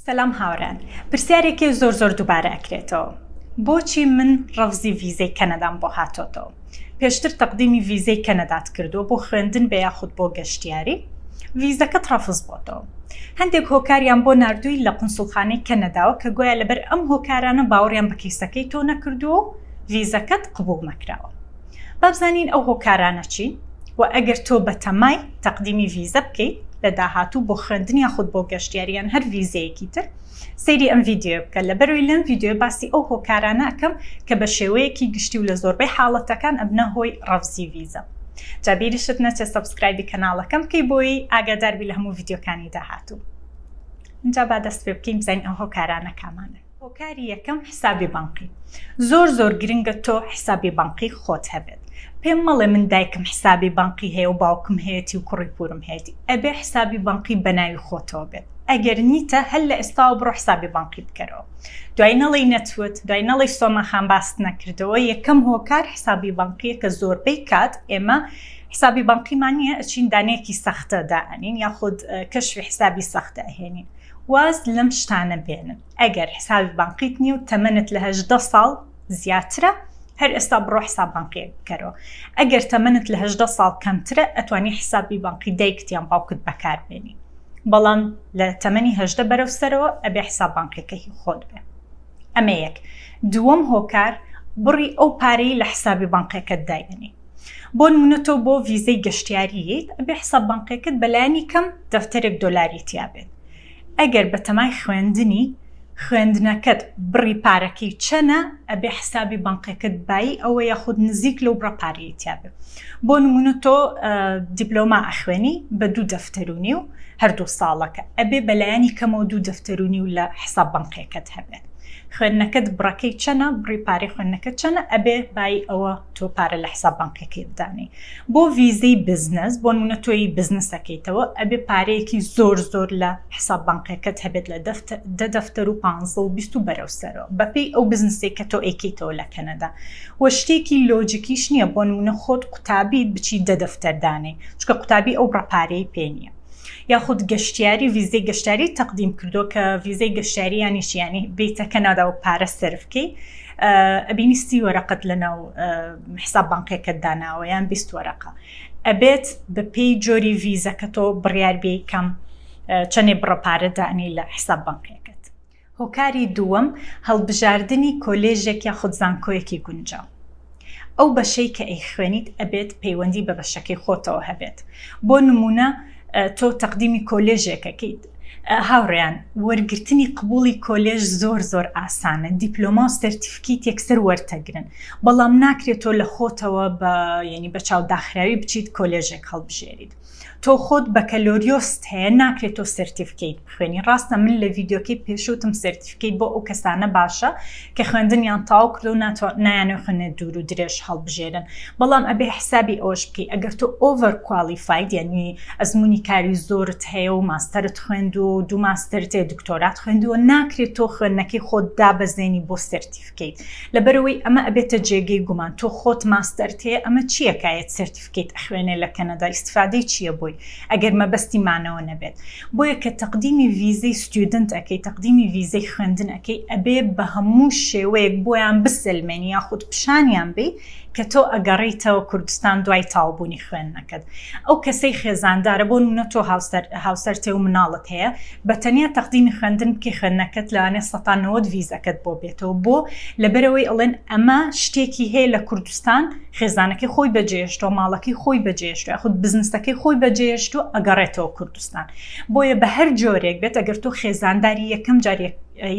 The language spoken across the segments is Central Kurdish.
سەلام هاوڕێیان پرسیارێکێ زۆر زۆر دووبارە ئەکرێتەوە بۆچی من ڕەفزی ڤیزەی کەنەدام بۆ هاتۆتەوە پێشتر تەقدیمی ڤیزەی کەنەدات کردووە بۆ خوێندن بێ یاخود بۆ گەشتیاری ڤیزەکەت ڕەفز بۆتەوە هەندێک هۆکاریان بۆ نردووی لە قنسڵخانەی کەنەداوە کە گوایە لەبەر ئەم هۆکارانە باوەڕیان بە کەیسەکەی تۆ نەکردووە و ڤیزەکەت قبوڵ نەکراوە با بزانین ئەو هۆکارانە چین و ئەگەر تۆ بەتەمای تەقدیمی ڤیزە بکەیت لە داهاتوو بۆ خوێندن یا خود بۆ گەشتیاریان هەر ڤیزەیەکی تر سەیری ئەم ڤیددیو بکە لە بەروی لەم ڤیددیو باسی ئەو هۆکارانە ئەکەم کە بە شێوەیەکی گشتی و لە زۆربەی حاڵەتەکان ئەبنە هۆی ڕەفزی ڤیزە جابیریشت نەچێت سەبسکرایبی کەناڵەکەم بکەی بۆی ئاگاداربی لە هەموو ڤیددیوکانی داهاتوو اینجا با دەست پێ بکەین بزانین ئەو هۆکارانە کامانن هۆکاری یەکەم حسابی بانقی زۆر زۆر گرنگە تۆ حسابی بانقی خۆت هەبێت پێم مەڵێ من دایکم حسابی بانقی هەیە و باوکم هەیەتی و کوڕی پورم هەیەتی ئەبێ حسابی بانقی بەناوی خۆتەوە بێت ئەگەر نیتە هەر لە ئێستاوە بڕۆ حسابی بانقی بکەرەوە دوای نەڵی نەتوت دوای نەڵی سۆما خان باست نەکردەوە یەکەم هۆکار حسابی بانقیە کە زۆربەی کات ئێمە حسابی بانقیمان نیە ئەچین دانەیەکی سەختە دائەنین یاخود کەشفی حسابی سەختە ئەهێنین واز لەم شتانە بێنن ئەگەر حسابی بانقیت نیە و تەمەنت لە هەژدە ساڵ زیاترە هەر ئێستا بڕۆ حساب بانقیەک بکەرەوە ئەگەر تەمەنت لە هەژدە ساڵ کەمترە ئەتوانی حسابی بانقی دایکت یان باوکت بەکاربێنی بەڵام لە تەمەنی هەژدە بەرەو سەرەوە ئەبێ حساب بانقیەکەی خۆت بێ ئەمە یەک دووەم هۆکار بڕی ئەو پارەی لە حسابی بانقیەکەت داینی بۆنمونە تۆ بۆ ڤیزەی گەشتیاریت ئەبێ حساب بانقیەکەت بەلایانی کەم دەفتەرێک دۆلاری تیابێت ئەگەر بەتەمای خوێندنی خوێندنەکەت بڕی پارەکەی چەنە ئەبێ حسابی بانقەکەت بایی ئەوە یاخود نزیک لەو بڕە پارەیەتیابێ بۆ نمونە تۆ دیبلۆما ئەخوێنی بە دوو دەفتەرونی و هەردوو ساڵەکە ئەبێ بەلایەنی کەمەوە دوو دەفتەرونی و لە حساب بانقەکەت هەبێت خوێندنەکەت بڕەکەی چەنە بڕی پارەی خوێندنەکە چەنە ئەبێ بای ئەوە تۆ پارە لە حساب بانکەکەیت دانێی بۆ ڤیزەی بزنس بۆ نمونە تۆی بزنس دەکەیتەوە ئەبێ پارەیەکی زۆر زۆر لە حساب بانکەکەت هەبێت لە دە دەفتەر و پانزە و بیست و بەرەو سەرەوە بەپێی ئەو بزنسەی کە تۆ ئەیکەیتەوە لە کەنەدا وە شتێکی لۆجیکیش نییە بۆ نمونە خۆت قوتابیت بچی دە دەفتەر دانێی چونکە قوتابی ئەو بڕە پارەی پێ نییە یاخود گەشتیاری ڤیزەی گەشتاری تەقدیم کردو کە ڤیزەی گەشتاریانی شیانی بیتە کەنادا و پارە سەرفکەی ئەبینی سی وەرەقەت لە ناو حساب بانقێکت داناوە یان بیست وەرەقە ئەبێت بە پێی جۆری ڤیزەکە تۆ بڕیار بێ کەم چەندێ بڕە پارە دانی لە حساب بانقێکت هۆکاری دووەم هەڵبژاردنی کۆلێژێک یا خودزانکۆیەکی گونجاو ئەو بەشەی کە ئەی خوێنیت ئەبێت پەیوەندی بە بەشەکەی خۆتەوە هەبێت بۆ نمونە تۆ تەقدیمی کۆلێژێکەکەیت هاوڕێیان وەرگرتنی قبوڵی کۆلێژ زۆر زۆر ئاسانە دیپلۆما و سەرتیفکیت یەکسەر وەرتەگرن بەڵام ناکرێت تۆ لە خۆتەوە بە یعنی بە چاو داخراوی بچیت کۆلێژێک هەڵبژێریت تۆ خۆت بەکەلۆریۆست هەیە ناکرێت تۆ سەرتیفکیت بخوێنی ڕاستە من لە ڤیددیوکەی پێشوتم سەرتیفکیت بۆ ئەو کەسانە باشە کە خوێندنیان تەواو کردو نایانەوێ خوێنێ دوور و درێژ هەڵبژێرن بەڵام ئەبێ حسابی ئەوەش بکەی ئەگەر تۆ ئۆڤەر کوالیفاید یعنی ئەزمونی کاری زۆرت هەیە و ماستەرت خوێند و دوو ماستەرت هەیە دکتۆرات خوێندووە ناکرێت تۆ خوێندنەکەی خۆت دابەزێنی بۆ سەرتیفکەیت لەبەرەوەی ئەمە ئەبێتە جێگەی گومان تۆ خۆت ماستەرت هەیە ئەمە چییەکایەت سەرتیف تکێت ئەخوێنێ لە کەنەدا ئیستفادەی چیە بۆی ئەگەر مەبەستی مانەوە نەبێت بۆیە کە تەقدیمی ڤیزەی ستیودنت ئەکەی تەقدیمی ڤیزەی خوێندن ئەکەی ئەبێ بە هەموو شێوەیەک بۆیان بسەلمێنی یاخود پیشانیان بەی کە تۆ ئەگەڕێیتەوە کوردستان دوای تاوبوونی خوێندنەکەت ئەو کەسەی خێزاندارە بۆ نمونە تۆ هاوسەرتێ و مناڵت هەیە بە تەنیا تەقدیمی خوێندن بکەی خوێندنەکەت لەوانێ سەتا نەوەد ڤیزەکەت بۆ بێتەوە بۆ لەبەرەوەی ئەڵێن ئەمە شتێکی هەیە لە کوردستان خێزانەکەی خۆی بەجێهێشتووە، ماڵەکەی خۆی بەجێهێشتووە، یاخود بزنسەکەی خۆی بەجێهێشتووە، ئەگەڕێتەوە کوردستان. بۆیە بە هەر جۆرێک بێت ئەگەر تۆ خێزانداری یەکەم جار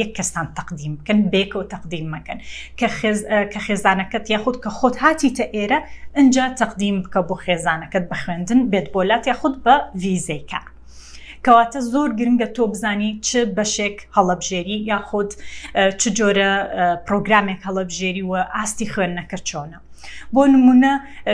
یەک کەستان تەقدیم بکەن، بەیەکەوە تەقدیم مەکەن. کە خێزانەکەت یاخود کە خۆت هاتیتە ئێرە، ئینجا تەقدیم بکە بۆ خێزانەکەت بە خوێندن بێت بۆ لات یاخود بە ڤیزەی کار. کەواتە زۆر گرنگە تۆ بزانی چ بەشێک هەڵەبژێری یاخود چ جۆرە پرۆگرامێک هەڵەبژێری و ئاستی خوێندنەکە چۆنە بۆ نمونە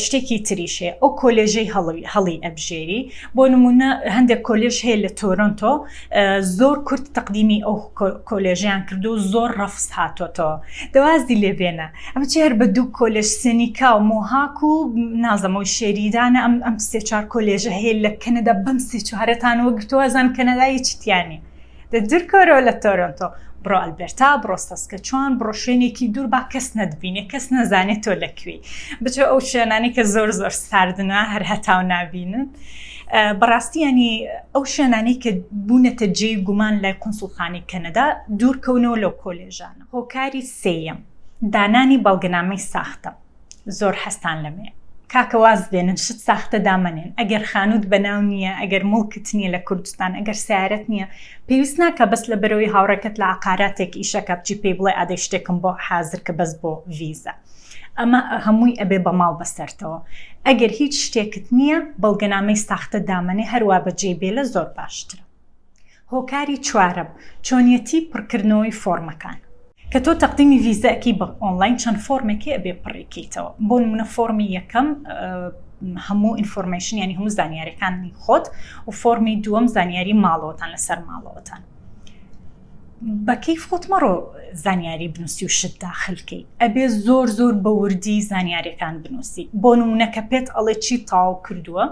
شتێکی تریشێ ئەو کۆلێژەی هەڵوی هەڵی ئەبژێری بۆ نمونە هەندێک کۆلێژ هەیە لە تۆرنتۆ زۆر کورت تەقدیمی ئەو کۆلێژیان کردو زۆر ڕەفست هاتۆتەوە دوازی لێبێنە ئەمە چی هەر بە دوو کۆلێژ سێنیکا و مۆهاک و نازەمە و شێریدانە ئەم ئەم سێ چوار کۆلێژە هەیە لە کەنەدا بەم سێ چوارەتان وەگرتووە ئەزان کەنەدا هیچی تیا نییە دە دوورکەوەرەوە لە تۆرۆنتۆ بڕۆ ئەلبێرتا بڕۆ سەسکەچوان بڕۆ شوێنێکی دوور با کەس نەتبینێ کەس نەزانێت تۆ لە کوێی بچۆ ئەو شوێنانی کە زۆر زۆر ساردنە هەر هەتاو نابینن بەڕاستی ینی ئەو شوێنانی کە بوونەتە جێی گومان لای قونسڵخانی کەنەدا دوورکەونەوە لەو کۆلێژانە هۆکاری سێیەم دانانی بەڵگەنامەی ساختە زۆر حەزتان لەمەیە کاکە واز بێنن شت ساختە دامەنێن ئەگەر خانووت بەناو نییە ئەگەر موڵکت نییە لە کوردستان ئەگەر سیارەت نییە پێویست ناکە بەس لە بەرەوەی هاوڕێکەت لە عقاراتێک ئیشەکە بچی پێی بڵێ ئادەی شتێکم بۆ حازر کە بەس بۆ ڤیزە ئەمە هەمووی ئەبێ بە ماڵ بەسەرتەوە ئەگەر هیچ شتێکت نییە بەڵگەنامەی ساختە دامەنێ هەروە بەجێی بێلە زۆر باشترە هۆکاری چوارەم چۆنیەتی پڕکردنەوەی فۆڕمەکان کە تۆ تەقدیمی ڤیزە ئەکەی بە ئۆنڵاین چەند فۆڕمێکی ئەبێ پڕیکەیتەوە بۆ نمونە فۆڕمی یەکەم هەموو ئینفۆرمەیشن ینی هەموو زانیارەکانی خۆت و فۆڕمی دووەم زانیاری ماڵەوەتان لەسەر ماڵەوەتان بەکەی خۆت مەڕۆ زانیاری بنووسی و شت داخلکەی ئەبێ زۆر زۆر بە وردی زانیارەکان بنووسی بۆ نمونونەکە پێت ئەڵێ چی تاو کردووە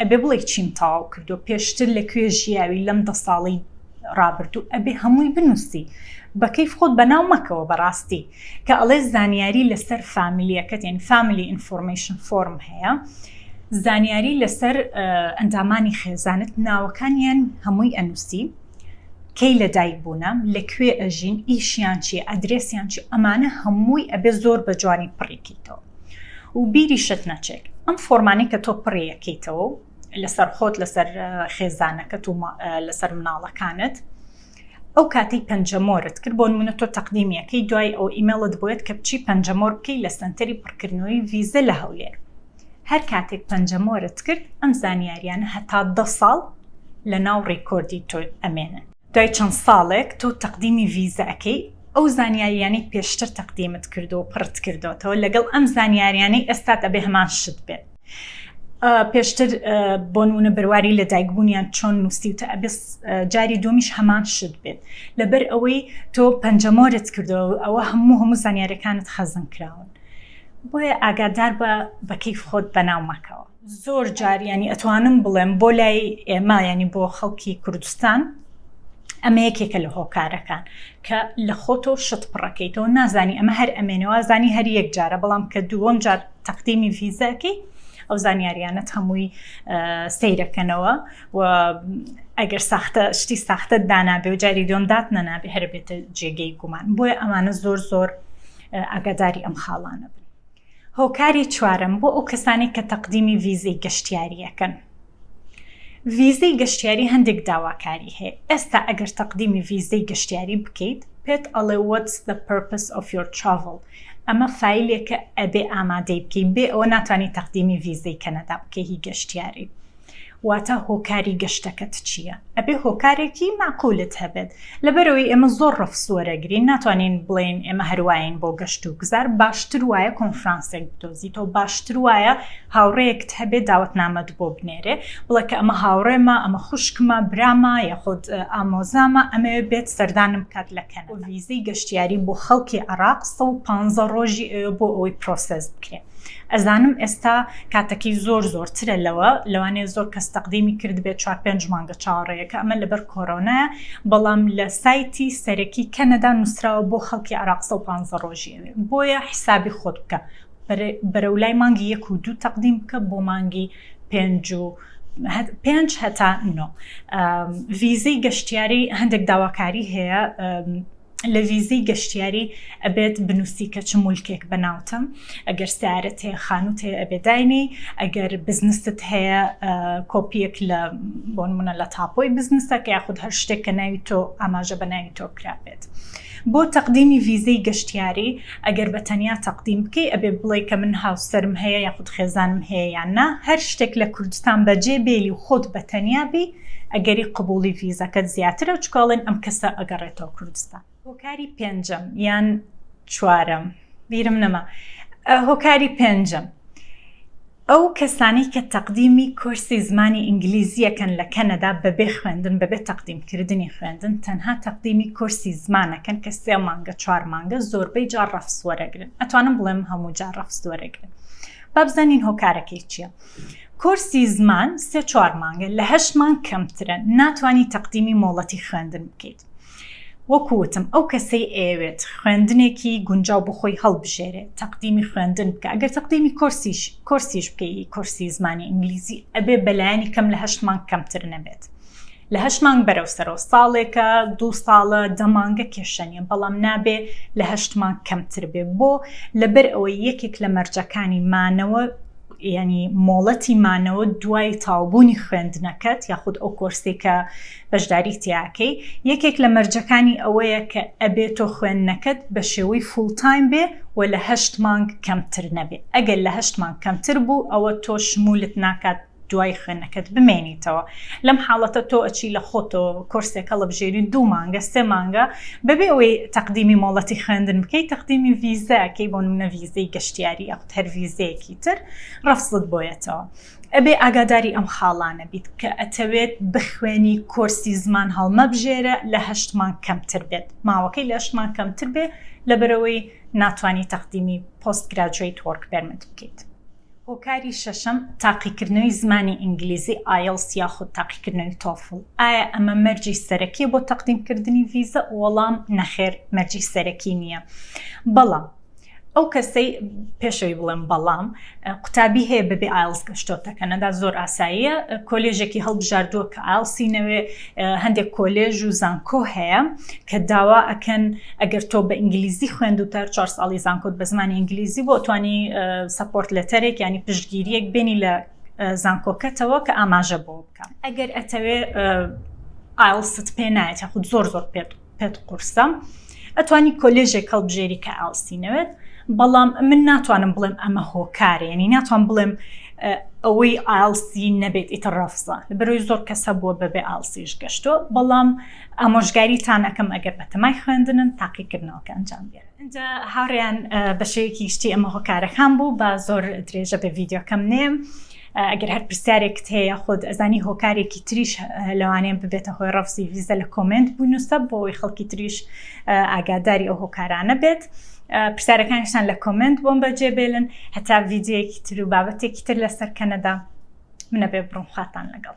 ئەبێ بڵێی چیم تەواو کردووە پێشتر لە کوێ ژیاوی لەم دە ساڵی ڕابردوو ئەبێ هەمووی بنووسی بەکەیف خۆت بەناو مەکەوە بەڕاستی کە ئەڵێ زانیاری لەسەر فامیلیەکەت یعنی فامیلی ئینفۆرمەیشن فۆرم هەیە زانیاری لەسەر ئەندامانی خێزانت ناوەکانیان هەمووی ئەنووسی کەی لە دایک بوونە لەکوێ ئەژین ئیشیان چی ئەدرێسیان چی ئەمانە هەمووی ئەبێ زۆر بە جوانی پڕیکەیتەوە و بیریشت نەچێک ئەم فۆرمانەی کە تۆ پڕیەکەیتەوە و لەسەر خۆت لەسەر خێزانەکەت و لەسەر مناڵەکانت ئەو کاتی پەنجەمۆرت کرد بۆ منە تۆ تەقدیمیەکەی دوای ئەو ئیمەڵت بێت کە بچی پەنجەمۆر بکەی لە سنتەری پڕکردنەوەی ویزە لە هەولێر هەر کاتێک پەنجەمۆرت کرد ئەم زانیاریانە هەتا دە ساڵ لە ناو ڕیکۆردی تۆ ئەمێنن دوای چەند ساڵێک تۆ تەقدیمی ڤیزە ئەکەی ئەو زانیاریانەی پێشتر تەقدیمت کردوە و پڕت کردۆتەوە لەگەڵ ئەم زانیاریانەی ئێستات ئەبێ هەمان شت بێت پێشتر بۆ نمونە بەرواری لە دایک بوونیان چۆن نووسیوتە ئەبێ جاری دومیش هەمان شت بێت لەبەر ئەوەی تۆ پەنجەمۆرت کردەوە ئەوە هەموو هەموو زانیارەکانت خەزن کراون بۆیە ئاگادار بە بەکەیف خۆت بەناو مەکەوە زۆر جار ینی ئەتوانم بڵێم بۆ لای ئێمە ینی بۆ خەڵکی کوردستان ئەمە یەکێکە لە هۆکارەکان کە لە خۆتۆ شت پڕەکەیتەوە نازانی ئەمە هەر ئەمێنەوە زانی هەر یەک جارە بەڵام کە دووەم جار تەقدیمی ڤیزەکەی ئەو زانیاریانەت هەمووی سیرەکەنەوە و ئەگەر ساختە شتی ساختە دانابێ و جاری دوم دات نەنابێ هەر بێتە جێگەی گومان بۆیە ئەمانە زۆر زۆر ئاگاداری ئەم خاڵانە بن هۆکاری چوارەم بۆ ئەو کەسانەی کە تەقدیمی ڤیزەی گەشتیارییەکەن ڤیزەی گەشتیاری هەندێک داواکاری هەیە ئێستا ئەگەر تەقدیمی ڤیزەی گەشتیاری بکەیت پێت ئەڵێ What's the purpose of your travel ئەمە فیلێکە ئەبێ ئامادەی بکەی بێ ئەوە ناتوانانی تەقدیمی ڤیزەی کەنەدا بکەی هی گەشتیاری واتا هۆکاری گەشتەکەت چییە؟ ئەبێ هۆکارێکی مەعقولت هەبێت. لەبەرئەوەی ئێمە زۆر ڕەفز وەرەگرین، ناتوانین بڵێین ئێمە هەروایین بۆ گەشت و گوزار، باشتر وایە کۆنفرانسێک بدۆزیتەوە، باشتر وایە هاوڕێیەکت هەبێ داوەتنامەت بۆ بنێرێ، بڵێ کە ئەمە هاوڕێمە، ئەمە خوشکمە، برامە، یاخود ئامۆزامە، ئەمەوێ بێت سەردانم بکات لە کەنەدا. وە ڤیزەی گەشتیاری بۆ خەڵکی عێڕاق سەد و پانزە ڕۆژی ئەوێ بۆ ئەوەی پرۆسێس بکرێ. ئەزانم ئێستا کاتەکەی زۆر زۆر ترە لەوە لەوانەیە زۆر کەس تەقدیمی کردبێت چوار پێنج مانگە چاوەڕێیەکە ئەمە لەبەر کۆرۆنایە بەڵام لە سایتی سەرەکی کەنەدا نووسراوە بۆ خەڵکی عێراق سەد و پازدە ڕۆژی ئەوێ بۆیە حیسابی خۆت بکە بەرەو لای مانگی یەک و دوو تەقدیم بکە بۆ مانگی پێنج و پێنج هەتا نۆ ڤیزەی گەشتیاری هەندێک داواکاری هەیە لە ڤیزەی گەشتیاری ئەبێت بنووسی کە چ مولکێک بە ناوتم ئەگەر سارت هەیە خانوت هەیە ئەبێ داینی ئەگەر بزنست هەیە کۆپیەک لە بۆن منە لە تاپۆی بزنسە کە یاخود هەر شتێک کە ناوی تۆ ئاماژە بە ناوی تۆ کرابێت بۆ تەقدیمی ڤیزەی گەشتیاری ئەگەر بە تەنیا تەقدیم بکەی ئەبێ بڵێ کە من هاوسرم هەیە یاخود خێزانم هەیە یان نا هەر شتێک لە کوردستان بەجێ بێلی و خۆت بە تەنیا بی ئەگەری قبوڵی ڤیزەکەت زیاترە چکە ئەڵێن ئەم کەسە ئەگەڕێتەوە کوردستان. هۆکاری پێنجەم یان چوارەم بیرم نەما هۆکاری پێنجەم ئەو کەسانی کە تەقدیمی کۆرسی زمانی ئینگلیزیەکەن لە کەنەدا بەبێ خوێندن بەبێ تەقدیمکردنی خوێندن تەنها تەقدیمی کۆرسی زمانەکەن کە سێ مانگە چوار مانگە زۆربەی جار ڕەفسوەرەگرن ئەتوانم بڵێم هەموو جار ڕەفسوەرەگرن بابزانین هۆکارەکەی چییە؟ کۆرسی زمان سێ چوار مانگە لە هەشت مانگ کەمترە ناتوانی تەقدیمی مۆڵەتی خوێندن بکەیت وەکو وتم ئەو کەسەی ئەیەوێت خوێندنێکی گونجاو بخۆی هەڵبژێرێ تەقدیمی خوێندن بکە ئەگەر تەقدیمی کۆرسیش کۆرسیش بکەی کۆرسی زمانی ئینگلیزی ئەبێ بەلایەنی کەم لە هەشت مانگ کەمتر نەبێت لە هەشت مانگ بەرەو سەرەوە ساڵێکە دوو ساڵە دە مانگە کێشە نیە بەڵام نابێ لە هەشت مانگ کەمتر بێ بۆ لەبەر ئەوەی یەکێک لە مەرجەکانی مانەوە ینی مۆڵەتی مانەوە دوای تاوبوونی خوێندنەکەت یاخود ئەو کۆرسی کە بەشداری تیاکەی یەکێک لە مەرجەکانی ئەوەیە کە ئەبێت تۆ خوێندنەکەت بە شێوەی فولتایم بێ و لە هەشت مانگ کەمتر نەبێت ئەگەر لە هەشت مانگ کەمتر بوو ئەوە تۆ شمولت ناکات دوای خوێندنەکەت بمێنیتەوە لەم حاڵەتە تۆ ئەچی لە خۆتەوە کۆرسێک هەڵبژێری دوو مانگە سێ مانگە بەبێ ئەوەی تەقدیمی مۆڵەتی خوێندن بکەیت تەقدیمی ڤیزاکەی بۆ منە ڤیزەی گەشتیاری یاخود هەر ڤیزەیەکی تر ڕەفزت بۆیەتەوە ئەبێ ئاگاداری ئەم خاڵانە بیت کە ئەتەوێت بخوێنی کۆرسی زمان هەڵمەبژێرە لە هەشتمان کەمتر بێت ماوەکەی لە هەشتمان کەمتر بێ لەبەرەوەی ناتوانانی تەقدیمی پۆست گراجویت وەرک پێرمت بکەیت. هۆکاری شەشەم، تاقیکردنەوەی زمانی ئینگلیزی، ئایڵس، یاخود تاقیکردنەوەی تۆفڵ. ئایا ئەمە مەرجی سەرەکیە بۆ تەقدیمکردنی ڤیزە؟ وەڵام، نەخێر مەرجی سەرەکی نیە. بەڵام ئەو کەسەی، پێشەوەی بڵێم بەڵام، قوتابی هەیە بەبێ ئایڵس گەشتۆتە کەنەدا زۆر ئاساییە، کۆلێژێکی هەڵبژاردووە کە ئایڵسی نەوێ، هەندێک کۆلێژ و زانکۆ هەیە کە داوا ئەکەن ئەگەر تۆ بە ئینگلیزی خوێند و تەر چوار ساڵی زانکۆت بە زمانی ئینگلیزی بۆ توانی سپۆرت لەتەرێک ینی پشتگیریەک بینی لە زانکۆکەتەوە کە ئاماژە بۆ بکەم ئەگەر ئەتەوێ ئایلست پێ نایەت یاخود زۆر زۆر پێت پێت قورسە ئەتوانی کۆلێژێک هەڵبژێری کە ئاڵسی نەوێت بەڵام من ناتوانم بڵێم ئەمە هۆکارە ینی ناتوان بڵێم ئەوەی ئالسی نەبێت ئیتە ڕافزە بەرۆی زۆر کەسە بووە بەبێ ئالسیش گەشتۆ بەڵام ئامۆژگاریتان ئەەکەم ئەگەر بەتەمای خوێندنن تاقیکردنەوەکە ئەنجام بێت اینجا هاڕیان بەشەیەکی شتی ئەمە هۆکارەکان بوو با زۆر درێژە بە ڤیددیوکەم نێم ئەگەر هەر پرسیارێکت هەیە یا خۆت ئەزانی هۆکارێکی تریش لەوانەیە ببێتە هۆی ڕەفزی ڤیزە لە کۆمێنت بنووسە بۆ ئەوەی خەڵکی تریش ئاگاداری ئەو هۆکارانە بێت. پرسیارەکانشتان لە کۆمێنت بۆم بەجێ بێلن هەتا ڤیددیوەکی تر و بابەتێکی تر لەسەر کەنەدا منە بێ بڕم خواتان لەگەڵ.